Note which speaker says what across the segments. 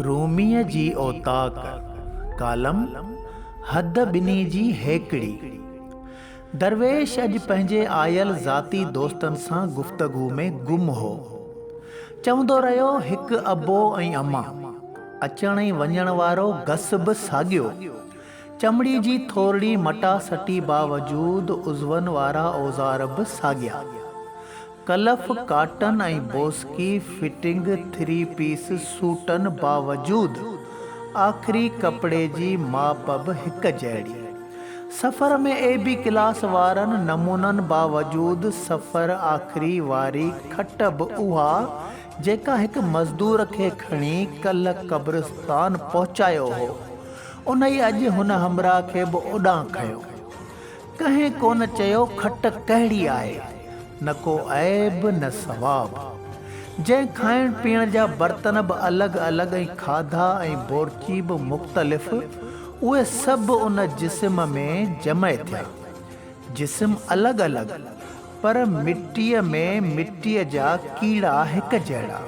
Speaker 1: روميء جي اوطاق، ڪالم، حد ٻنهي جي هيڪڙي. درويش اڄ پنهنجي آيل ذاتي دوستن سان گفتگو ۾ گم هو. چوندو رهيو هڪ ابو ۽ اما. اچڻ ۽ وڃڻ وارو گس به ساڳيو. چمڙي جي ٿورڙي مٽاسٽي باوجود عضون وارا اوزار به ساڳيا. ڪلف ڪاٽن ۽ بوسڪي فٽنگ ٿري پيس سوٽن باوجود آخري ڪپڙي جي ماپ به هڪ جهڙي. سفر ۾ اي بي ڪلاس وارن نمونن باوجود سفر آخري واري کٽ به اها جيڪا هڪ مزدور کي کڻي ڪلهه قبرستان پهچايو هو انهي اڄ هن همراهه کي به اوڏانهن کنيو. ڪنهن ڪونه چيو کٽ ڪهڙي آهي، نه ڪو عيب نه ثواب. جنهن کائڻ پيئڻ جا برتن به الڳ الڳ ۽ کاڌا ۽ بورچي به مختلف، اهي سڀ ان جسم ۾ جمع ٿيا. جسم الڳ الڳ. پر مٽيء ۾ مٽيء جا ڪيڙا هڪ جهڙا.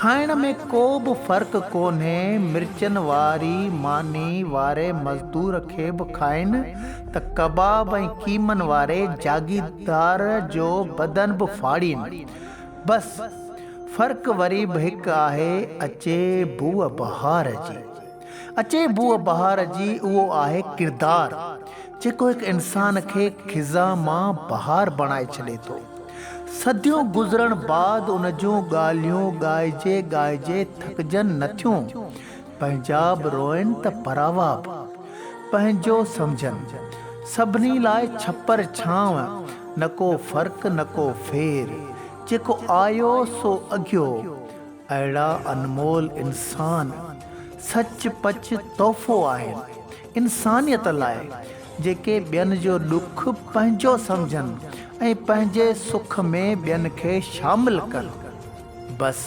Speaker 1: کائڻ ۾ ڪو به فرق ڪونهي، مرچن واري ماني واري مزدور کي به کائين ته ڪباب ۽ قيمن واري جاگيردار جو بدن به ڦاڙين. بس! فرق وري به هڪ آهي، اچي بوء بهار جي. اچي بوء بهار جي اهو آهي ڪردار جيڪو هڪ انسان کي خزا مان بهار بڻائي ڇڏي ٿو. صديون گذرڻ بعد ان جون ڳالهيون ڳائجي ڳائجي ٿڪجن نه ٿيون. پنهنجا به روئن ته پراوا به پنهنجو سمجهن. سڀني لاء ڇپر ڇانو، نه ڪو فرق نه ڪو ڦير. جيڪو آيو سو اگهيو. اهڙا انمول انسان سچ پچ تحفو آهن انسانيت لاء جيڪي ٻين جو ڏک پنهنجو سمجهن ۽ پنهنجي سک ۾ ٻين کي شامل ڪن. بس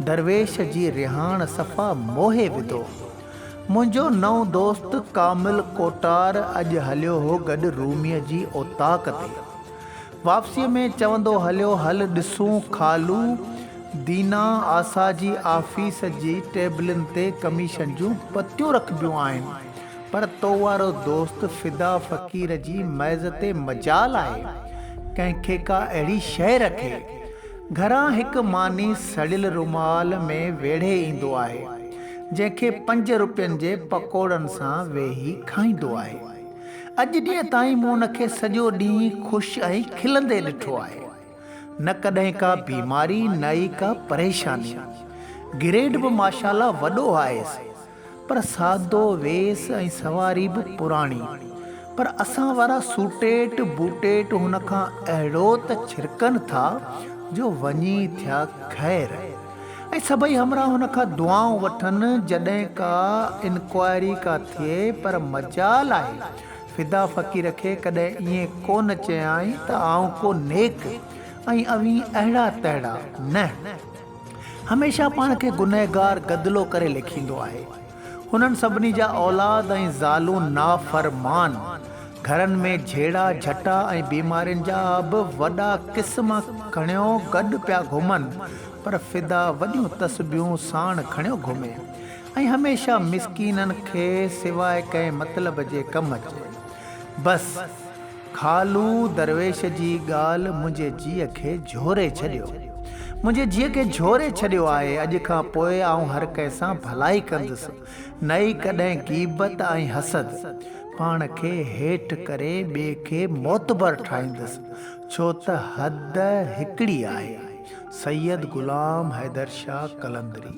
Speaker 1: درويش جي رهاڻ صفا موهي وڌو. منهنجو نئون دوست ڪامل ڪوٽار اڄ هليو هو گڏ روميء جي اوطاق تي. واپسيء ۾ چوندو هليو هل ڏسون خالو دينا آسا جي آفيس جي ٽيبلن تي ڪميشن جون پتيون رکبيون آهن پر تو وارو دوست فدا فقير جي ميز تي مجال آهي ڪنهن کي ڪا اهڙي شيء رکي. گهران هڪ ماني سڙيل رومال ۾ ويڙهي ايندو آهي جنهن کي پنج روپين جي پڪوڙن سان ويهي کائيندو آهي. اڄ ڏينهن تائين مون ان کي سڄو ڏينهن خوش ۽ کلندي ڏٺو آهي. نه ڪڏهن ڪا بيماري نه ئي ڪا پريشاني. گريڊ به ماشاءالله وڏو آهيس. پر سادو ويس ۽ سواري به پراڻي. پر اسان وارا سوٽيٽ بوٽيٽ هن کان اهڙو ته ڇرڪن ٿا جو وڃي ٿيا خير. ۽ سڀئي همراهه هن کان دعائون وٺن جڏهن ڪا انڪوائري ڪا ٿئي پر مجال آهي فدا فقير کي ڪڏهن ائين ڪو نه چيائين ته آئون ڪو نيڪ ۽ اوهين اهڙا تهڙا نه هميشه پاڻ کي گنهگار گدلو ڪري ليکيندو آهي. هنن سڀني جا اولاد ۽ زالون نافرمان، گهرن ۾ جهيڙا جهٽا ۽ بيمارين جا به وڏا قسم کڻيو گڏ پيا گهمن، پر فدا وڏيون تسبيحون ساڻ کڻيو گهمي ۽ هميشه مسڪينن کي سواء ڪنهن مطلب جي ڪم اچي. بس! خالو درويش جي ڳالهه منهنجي جيء کي جهوري ڇڏيو. منهنجي جيء کي جهوري ڇڏيو آهي. اڄ کان پوء آئون هر ڪنهن سان ڀلائي ڪندس. نه ئي ڪڏهن غيبت ۽ حسد. پاڻ کي هيٺ ڪري ٻئي کي معتبر ٺاهيندس. ڇو ته حد هڪڙي آهي. سيد غلام حيدر شاهه قلندري.